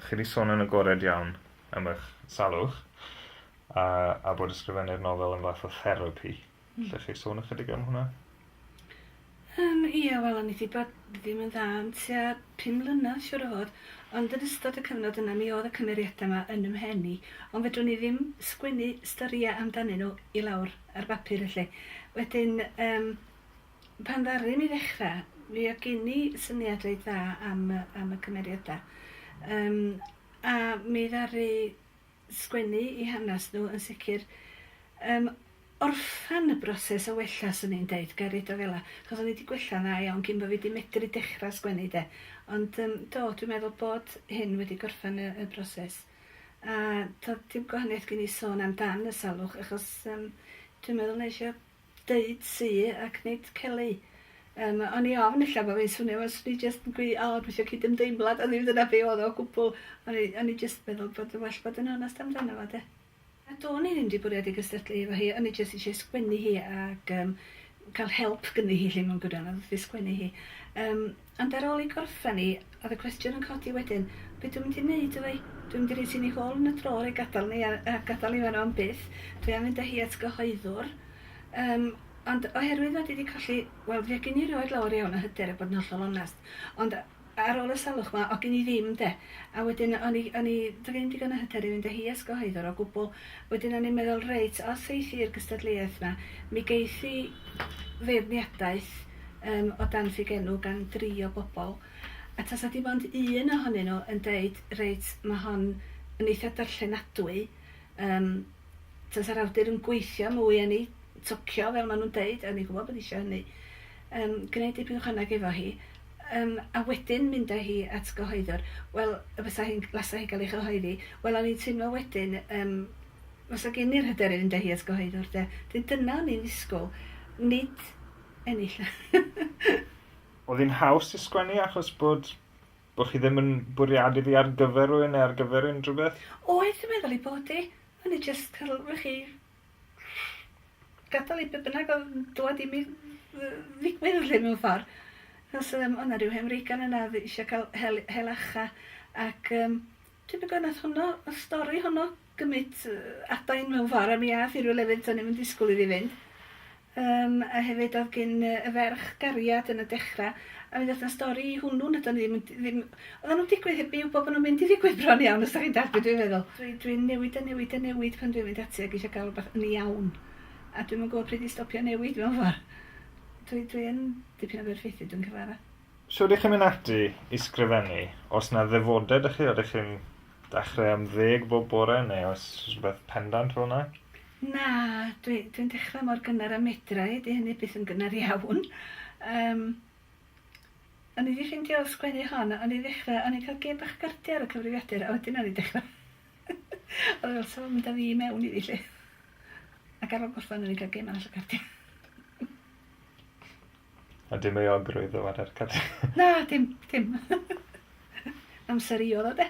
Chi 'di sôn yn agored iawn am eich salwch a a bod ysgrifennu'r nofel yn fath o therapi. Allech chi sôn ychydig am hwnna? Yym, ie, wel o'n i 'di bod ddim yn dda am tua pum mlynedd siŵr o fod, ond yn ystod y cyfnod yna mi o'dd y cymeriada 'ma yn 'y mhen i, ond fedrwn i ddim sgwennu storia amdanyn nhw i lawr ar bapur felly. Wedyn yym Pan ddaru ni ddechra, mi oedd gin i syniad reit dda am y am y cymeriada. Yym a mi ddaru sgwennu 'u hanas nhw yn sicr. Yym orffan y broses o wella swn i'n deud, ga i roid o fela, achos o'n i 'di gwella'n dda iawn cyn bo' fi 'di medru dechra sgwennu 'de. Ond yym do, dwi'n meddwl bod hyn wedi gorffen y y broses. A do'dd dim gwahaniaeth gin i sôn am dan y salwch achos yym dwi'n meddwl nesh i o deud Sue ac nid Kelly. Yym o'n i ofn ella bo' fi'n swnio fel swn i jyst yn gwi- o gwisgo cydymdeimlad on' ddim dyna be' odd o o gwbwl. O'n i o'n i jyst meddwl bod yn well bod yn onast amdano fo 'de. A do'n i ddim 'di bwriadu cystadlu efo hi o'n i jyst isie sgwennu hi ag yym ca'l help gynni hi 'lly mewn gwirionedd wrth 'i sgwennu hi. Yym. Ond ar ôl i gorffen hi, oedd y cwestiwn yn codi wedyn, be dwi'n mynd i wneud efo hi? Dwi'n mynd i roi ti yn ei hôl yn y draw a'i gadael ni a gadael hi fan'na am byth. Dwi am fynd â hi at gyhoeddwr. Yym, ond oherwydd fod hi 'di colli, wel, fe gin i rioed lawer iawn o hyder a bod yn hollol onest. Ond ar ôl y salwch 'ma, o' gin i ddim 'de. A wedyn o'n i o'n i ddim digon o hyder i fynd â hi at gyhoeddwr o gwbl. Wedyn o'n i'n meddwl, reit, os eith hi i'r gystadleuaeth 'ma, mi geith hi feirniadaeth, um, o dan ffugenw gan dri o bobl, a tasa dim ond un ohonyn nhw yn deud, reit, mae hon yn eitha darllenadwy, um, tasa'r awdur yn gweithio mwy yn ei tocio, fel maen nhw'n deud, a ni'n gwybod bod eisiau hynny, um, gwneud dipyn o chwanag efo hi, um, a wedyn mynd â hi at gyhoeddwr, wel, y fysa hi'n lasa hi gael ei chyhoeddi, wel, o'n i'n teimlo wedyn, um, fysa gen i'r hyder i fynd â hi at gyhoeddwr, de. Dwi dyna o'n i'n ddisgwyl, nid ennill. Oedd hi'n haws i sgwennu achos bod bod chi ddim yn bwriadu ddi ar gyfer rhywun neu ar gyfer unrhyw beth? Oedd, dwi'n meddwl ei bod hi. O'n i jyst cael rhychi gadael i be' bynnag oedd yn dwad i mi ddigwydd 'lly mewn ffordd. Achos yym o' 'na ryw hen wreigan yna oedd eisiau cael hel- hel acha ac yym tybed be' nath honno, y stori honno? gymryd adain mewn ffordd a mi ath i rywle fyd do'n i'm yn disgwyl iddi fynd. Yym a hefyd o'dd gin yy y ferch gariad yn y dechra a mi ddoth 'na stori i hwnnw na do'n i ddim yn d- ddim oddan nw'n digwydd heb fi wbo bo' nw'n mynd i ddigwydd bron iawn os 'dach chi'n dallt be' dwi'n feddwl. Dwi dwi'n newid a newid a newid pan dwi'n mynd ati ag isio ga'l rwbath yn iawn a dwi'm yn gwbo pryd i stopio newid mewn ffor. Dwi dwi yn dipyn o berffeithiwr dwi'n cyfadda. Shwd i chi mynd ati i sgrifennu? Os na ddefodau dych chi, ydych chi'n dechrau am ddeg bob bore neu oes rhywbeth pendant fel yna? Na, dwi, dwi'n dechrau mor gynnar a medra i, 'di hynny byth yn gynnar iawn. Yym, o'n i 'di ffeindio sgwennu hon, o'n i ddechrau, o'n i'n cael gêm bach o gardiau ar y cyfrifiadur, a wedyn o'n i'n dechrau o'n i'n meddwl, sa fo'n mynd â fi i mewn iddi 'lly? Ac ar ôl gorffen o'n i'n cael gêm arall o gardiau. A dim euogrwydd o adael cadw. Na, dim, dim. Amser i oedd o de.